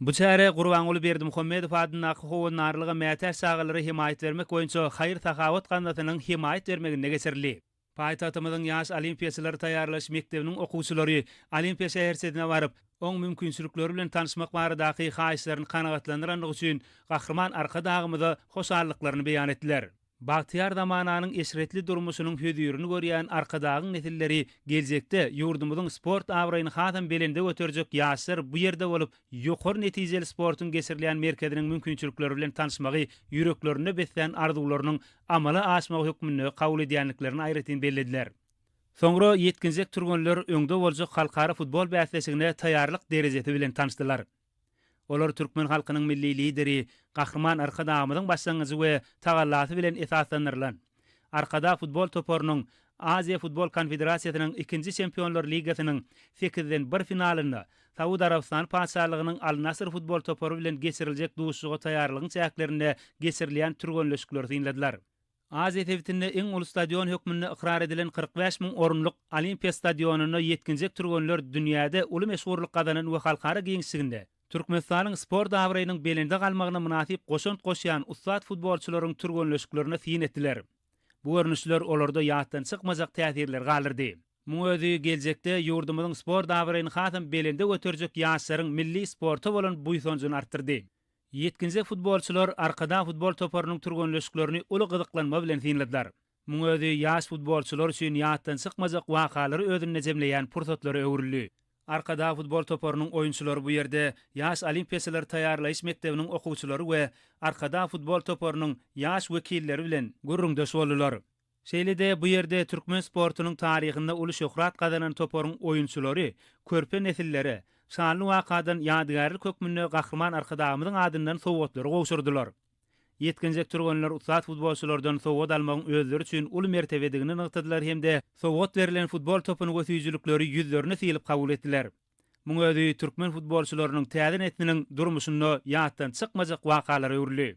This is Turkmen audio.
Bu çäre Gurbanguly Berdimuhamedow adyndaky Howandarlyga mätäç çagalary hemaýat bermek boýunça haýyr-sahawat gaznasynyň hemaýat bermeginde geçirildi. Paýtagtymyzyň Ýaş olimpiýaçylary taýýarlaýyş mekdebiniň okuwçylary Olimpiýa şäherçesine baryp, oň mümkinçilikleri bilen tanyşmak baradaky haýyşlaryny kanagatlandyrandygy üçin Gahryman Arkadagymyza hoşallyklaryny beýan etdiler. Bagtyýar zamananyň eşretli durmuşynyň hözirini görýän Arkadagyň nesilleri geljekde ýurdumyzyň sport abraýyny hasam belende göterjek ýaşlar bu ýerde bolup, ýokary netijeli sportuň geçirilýän merkeziniň mümkinçilikleri bilen tanyşmagy ýüreklerinde beslän arzuwlarynyň amala aşmagy hökmünde kabul edýändiklerini aýratyn bellediler. Soňra ýetginjek türgenler öňde boljak halkara futbol bäsleşigine taýýarlyk derejesi bilen tanyşdylar. Olar türkmen halkynyň Milli Lideri Gahryman Arkadagymyzyň başlangyjy we tagallasy bilen esaslandyrylan Arkadag futbol toparynyň Aziýa futbol konfederasiýasynyň ikinji Çempionlar ligasynyň sekizden bir finalynda Saud Arabystany Patyşalygynyň Al-Nasr futbol topary bilen geçiriljek duşuşyga taýýarlygyň çäklerinde geçirilýän türgenleşikleri synladylar. Aziýa sebitinde iň uly stadion hökmünde ykrar edilen kyrk bäş müň orunlyk Olimpiýa stadionynda ýetginjek türgenler dünýäde uly meşhurlyk gazanan we halkara giňişliginde Türkmenistanyň sport abraýynyň belende galmagyna mynasyp goşant goşýan ussat futbolçylaryň türgenleşiklerine syn etdiler. Bu görnüşler olarda ýatdan çykmajak täsirleri galdyrdy. Muň özi geljekde ýurdumyzyň sport abraýyny hasam belende göterjek ýaşlaryň milli sporta bolan buýsanjyny artdyrdy. Ýetginjek futbolçylar Arkadag futbol toparynyň türgenleşiklerini uly gyzyklanma bilen synladylar. Muň özi ýaş futbolçylar üçin ýatdan çykmajak wakalary özünde jemleýän pursatlara öwrüldi. Arkadag futbol toparynyň oýunçylary bu ýerde Ýaş olimpiýaçylary taýýarlaýyş mekdebiniň okuwçylary we Arkadag futbol toparynyň ýaş wekilleri bilen gürrüňdeş boldular. Şeýle-de bu ýerde türkmen sportunyň taryhynda uly şöhrat gazanan toparyň oýunçylary körpe nesillere şanly wakadan ýadygärlik hökmünde Gahryman Arkadagymyzyň adyndan sowgatlary gowşurdylar. Ýetginjek türgenler ussat futbolçylardan sowgat almagyň özleri üçin uly mertebedigini nygtadylar hem-de sowgat berlen futbol topyny we süýjülikleri ýüzlerine sylyp kabul etdiler. Muň özi türkmen futbolçylarynyň täze nesliniň durmuşynda ýatdan çykmajak wakalara öwrüldi.